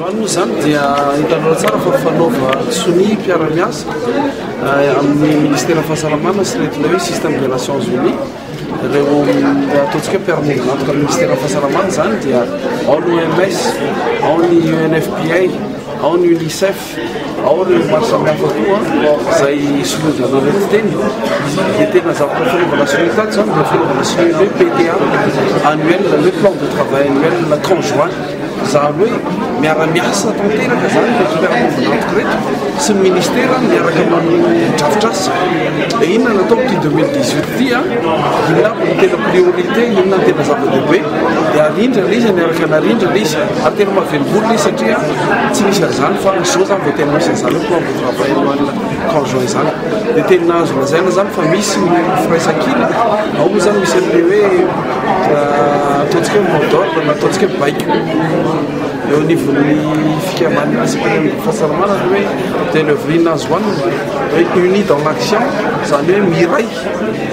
Voalohany moa izany dia hitanareo tsara fa fanaova sonia mpiara-miasa eh, amin'ny Ministeran'ny Fahasalamana sy retina hoe système des Nations Unies. Ireo eh, ataontsika mpiara-monina antoka amin'ny Ministeran'ny Fahasalamana izany dia ao ny OMS, ao ny UNFPA, ao ny UNICEF. Ao ireo maro samihafa koa izay soloin'izareo ireto fiteny dia tena zavatra fanaovana soloy tato izany dia fanaovana soloy hoe PTA annuel izany hoe plan de travail annuel conjoint izany hoe miara-miasa tanteraka izany ireto mpiara-monina antoko ireto sy ny ministera miaraka amin'ny drafitrasa dia inona no atao amin'ity 2018 ity a inona avy no tena priorité inona no tena zava-dehibe dia arindra ilay izy miaraka narindra ilay izy ary tena mahavelom-bolo ilay izy satria tsy nisy an'izany fa izao zany vao tena misy an'izany hoe plan de travail ho an'ny conjoint izany dia tena azo lazaina izany fa misy ny firaisankina ao moa izany misy an'ilay hoe euh, ataontsika hoe mot d'ordre na ataontsika hoe baiko eo anivon'ny fikamban'ny asipirany fahasalamana ny hoe dia le vrina azo anina hoe unis dans l'action izany hoe miray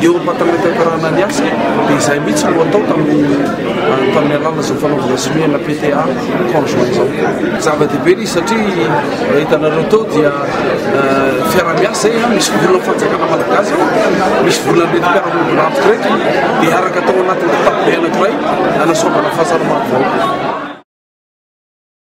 Eo am-patametataranana ny asa dia izay mihitsy no atao tamin'ny ah, tamin'ny alalan'izao fanaovana somehana PTA conjoint izao. Zava-dehibe izy satria eh, hitanareo tao dia eh, fiaraha-miasa eh, misy vola fanjakana malagasy ao, misy vola mety mpiara-monina rafitra reto dia araka tao anatin'ny kitapo be anankiray anasoavana fahasalamana vahoaka.